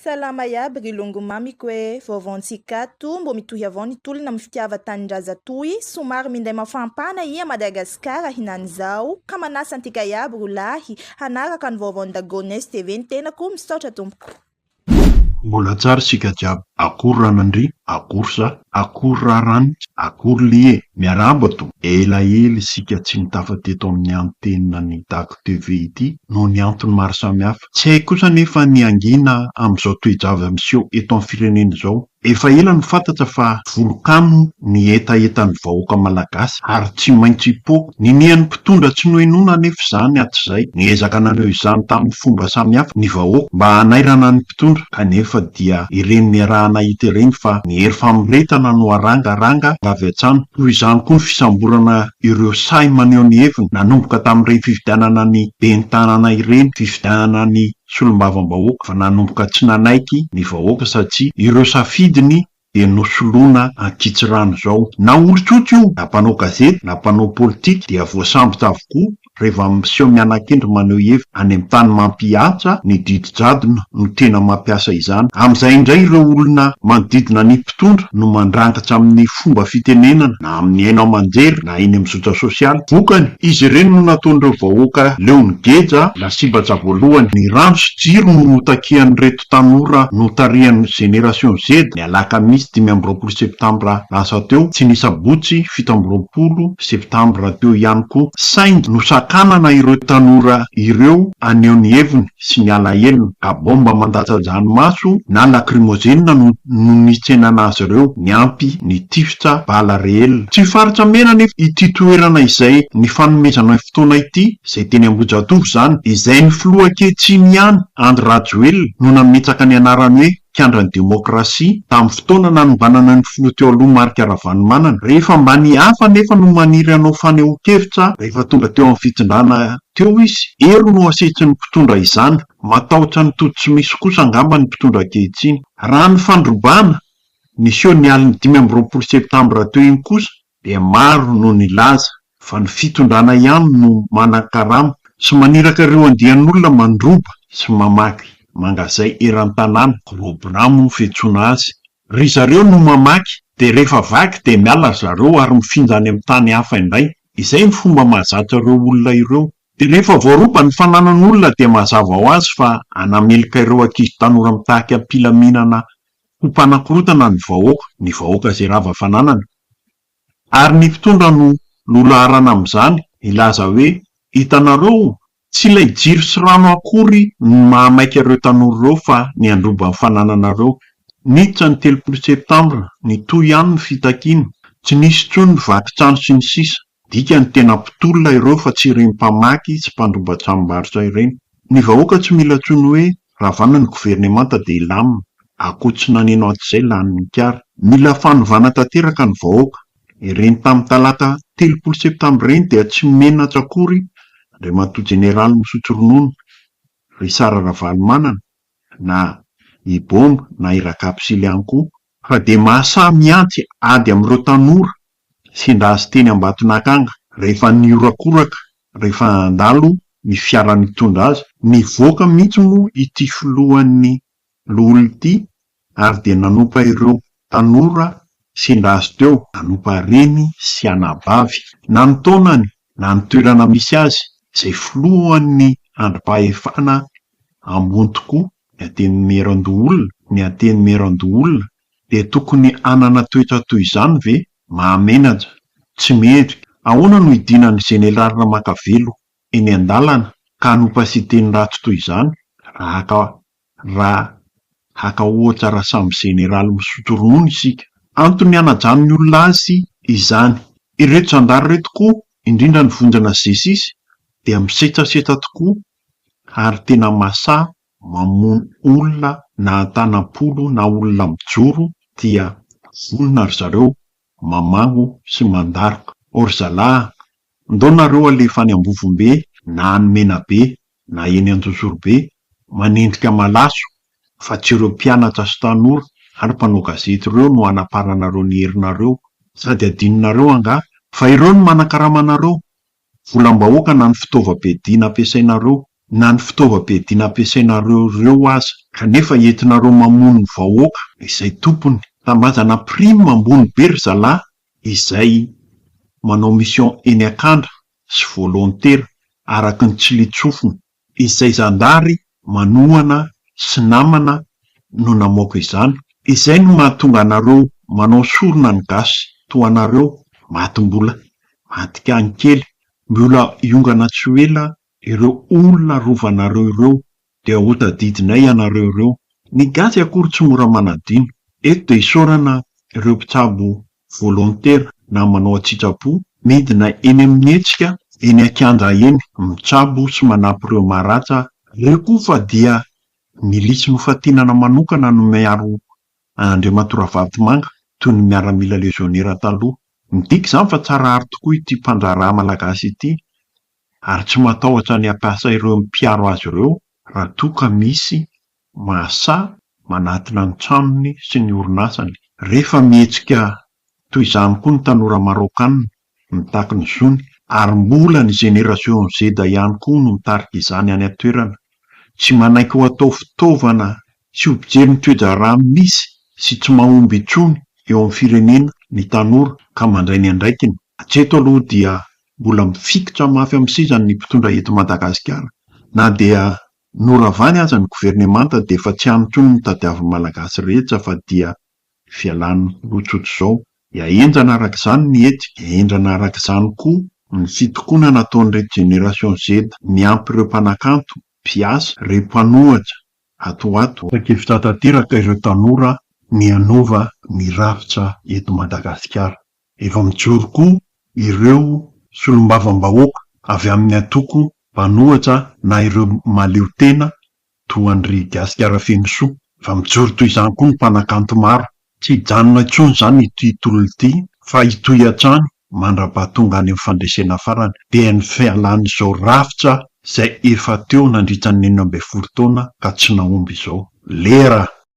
Salama iaby ry longo mamiko e! vaovao ntsikato, mbo mitohy avao ny tolona am fitiava tanindrazatoy, somary minday mafampana ia Madagasikara hinanizao, ka manasa antika iaby ro lahy hanaraka ny vaovaon dagones TV ny tenako, misaotra tompoko. Mbola tsara isika jiaby, akory ranandry, akory za, akory raranitsy, akory lie, miarahaba to, ela ela isika tsy nitafa teto amin'ny antenina ny dago TV ity noho ny antony maro samihafa, Tsy hay kosa anefa ny hangina amin'izao toe-java miseho eto amin'ny firenena izao. Efa ela no fantatra fa volokano ny hetahetan'ny vahoaka malagasy ary tsy maintsy hipoaka. Ninian'ny mpitondra tsy nohenoina anefa izany hatrizay. Niezaka nanao izany tamin'ny fomba samihafa ny vahoaka mba hanairana ny mpitondra kanefa dia ireny niarahana hita ireny fa ny hery famoretana no harangaranga avy hatrany. Toy izany koa ny fisamborana ireo sahy maneho ny heviny nanomboka tamin'ireny fifidianana ny ben'ny tanàna ireny, fifidianana ny solombavambahoaka fa nanomboka tsy nanaiky ny vahoaka satsia ireo safidiny dia nosoloana ankitsirano izao. Na olon-tsotra io, na mpanao gazety, na mpanao politika dia voasambotra avokoa. Reva miseho mianakendry maneho hevitra any amin'ny tany mampihaja ny didy jadona no tena mampiasa izany. Amin'izay indray ireo olona manodidina ny mpitondra no mandrangitra amin'ny fomba fitenenana na amin'ny haino aman-jery na eny amin'ny zotra sosialy. Vokany, izy ireny no nataon'ireo vahoaka leon'ny geja lasibatsa voalohany. Ny rano sy jiro no notakian'ireto tanora notarihan'ny Génération Z, ny alakamisy dimy amby roapolo septambra lasa teo, sy ny sabotsy fito amby roapolo septambra teo ihany koa, saingy nosakanana ireo tanora ireo haneho ny heviny sy ny alahelony, ka baomba mandatsa-dranomaso na lakrimozenina no nitsenana azy ireo, niampy ny tifitra bala reelina. Tsy faritra mena anefa ity toerana izay nifanomezana fotoana ity, izay teny Ambohijatovo izany, dia izay ny filoha ankehitriny ihany, Andry Rajoelina, no nametraka ny anarany hoe mpiandry ny demokrasia, tamin'ny fotoana nanombanana ny filoha teo aloha Marc Ravalomanana. Rehefa mba ny hafa anefa no maniry hanao fanehoan-kevitra rehefa tonga teo amin'ny fitondrana teo izy, hery no asehitrin'ny mpitondra izany. Matahotra ny tody tsy misy kosa angamba ny mpitondra ankehitriny. Raha ny fandrobana, niseho ny alin'ny dimy amby roapolo septambra teo iny kosa, dia maro no nilaza fa ny fitondrana ihany no manan-karama sy maniraka ireo andian'olona mandroba sy mamaky mangazay eran-tanàna, gros bras moa no fiantsoana azy. Ry zareo no mamaky dia rehefa vaky dia miala ry zareo ary mifinda any amin'ny tany hafa indray. Izay no fomba mahazatra ireo olona ireo. Dia rehefa voaroba ny fananan'olona dia mazava ho azy fa hanameloka ireo ankizy tanora mitaky am-pilaminana ho mpanakorotana ny vahoaka, ny vahoaka izay rava fananana. Ary ny mpitondra no nolaharana amin'izany, nilaza hoe, Hitanareo, tsy ilay jiro sy rano akory no mahamaika ireo tanora ireo fa ny handroba ny fanananareo. Niditra ny telopolo septambra, nitohy ihany ny fitakiana, tsy nisy intsony ny vaky trano sy ny sisa. Midika ny tena mpitolona ireo fa tsy ireny mpamaky sy mpandroba tranombarotra ireny. Ny vahoaka tsy mila intsony hoe ravana ny governemanta dia hilamina, akoho tsy naneno hatrizay lanin'ny kary. Mila fanovana tanteraka ny vahoaka. Ireny tamin'ny talata telopolo septambra ireny dia tsy menatra akory Andriamatoa Jeneraly misotro ronono, Richard Ravalomanana, na i Bomba na i Rakapisily ihany koa, fa dia mahasahy mihantsy ady amin'ireo tanora Nisinda azy teny Ambatonakanga rehefa nihorakoraka rehefa handalo ny fiara nitondra azy. Nivoaka mihitsy moa ity filohan'ny loholona ity ary dia nanompa ireo tanora sendra azy teo, nanompa reny sy anabavy na ny taonany na ny toerana misy azy, izay filohan'ny andrim-pahefana ambony tokoa, ny Antenimierandoholona, ny Antenimierandoholona dia tokony hanana toetra toy izany ve? Mahamenatra, tsy mendrika. Ahoana no hidinan'ny Jeneraly Ramakavelo eny an-dalana ka hanompa siteny ratsy toy izany? Raha raha haka ohatra raha samy Jeneraly misotro ronono isika. Antony hanajan'ny olona azy izany. Ireto zandary ireto koa, indrindra ny vondrona Zesisy dia misetrasetra tokoa ary tena masaha mamono olona na antanam-polo na olona mijoro dia vonona ry zareo mamagno sy mandaroka ao ry zalahy a! ndao nareo alefa any Ambovombe na any Menabe na eny Anjozorobe manendrika malaso fa tsy ireo mpianatra sy tanora ary mpanao gazety ireo no hanaparanareo ny herinareo sady adinonareo angaha fa ireo no manakarama anareo volam-bahoaka na ny fitaovam-piadiana ampiasainareo, na ny fitaovam-piadiana ampiasainareo ireo aza, kanefa entinareo mamono ny vahoaka izay tompony. Tanindrazana prime ambony be ry zalahy izay manao mission eny akandra sy volontaire araky ny tsilin-tsofina. izay zandary manohana sy namana no namoaka izany, izay no mahatonga anareo manao sorona ny gasy toa anareo maty mbola madikan kely mbola hiongana tsy ho ela ireo olona rovanareo ireo dia ho tadidinay ianareo ireo, ny gasy akory tsy mora manadino, eto dia isaorana ireo mpitsabo volontaire na manao an-tsitrapo, midina eny amin'ny hetsika eny an-kianja eny, mitsabo sy manampy ireo maratsa, ireo koa fa dia milisy nofantinana manokana no miaro an'Andriamatoa Ravalotomanga toy ny miaramila lezionera taloha. Midika izany fa tsara aro tokoa ity mpandraharaha malagasy ity ary tsy matahotra ny hampiasa ireo mpiaro azy ireo raha toa ka misy mahasahy manatona ny tranony sy ny orinasany. Rehefa mihetsika toy izany koa ny tanora Maraokanina mitaky ny zony, ary mbola ny Génération Z ihany koa no mitarika izany any an-toerana, tsy manaiky ho atao fitaovana tsy ho mpijery ny toe-draharaha misy sy tsy mahomby intsony eo amin'ny firenena ny tanora ka mandray ny andraikiny. Hatreto aloha dia mbola mifikitra mafy amin'ny sezany ny mpitondra eto Madagasikara na dia Noravany aza ny governemanta dia efa tsy any koa ny tadiavin'ny Malagasy rehetra fa dia fialany lotsotro izao. Iahenjana araka izany ny hetsika, iahenjana araka izany koa ny fitokonana ataon'ireto Génération Z miampy ireo mpanakanto, mpiasa, ireo mpanohatra ato ho ato. Tapa-kevitra tanteraka ireo tanora ny hanova ny rafitra eto Madagasikara. Efa mijoro koa ireo solombavambahoaka avy amin'ny antoko mpanohatra na ireo mahaleo tena toa an-dry Gasikara Fenosoa. Efa mijoro toy izany koa ny mpanakanto maro. Tsy hijanona intsony izany ity tolona ity fa hitohy hatrany mandrapaha tonga any amin'ny fandresena farany dia ny fialan'izao rafitra izay efa teo nandritra ny enina ambin'ny folo taona ka tsy nahomby izao. Lera!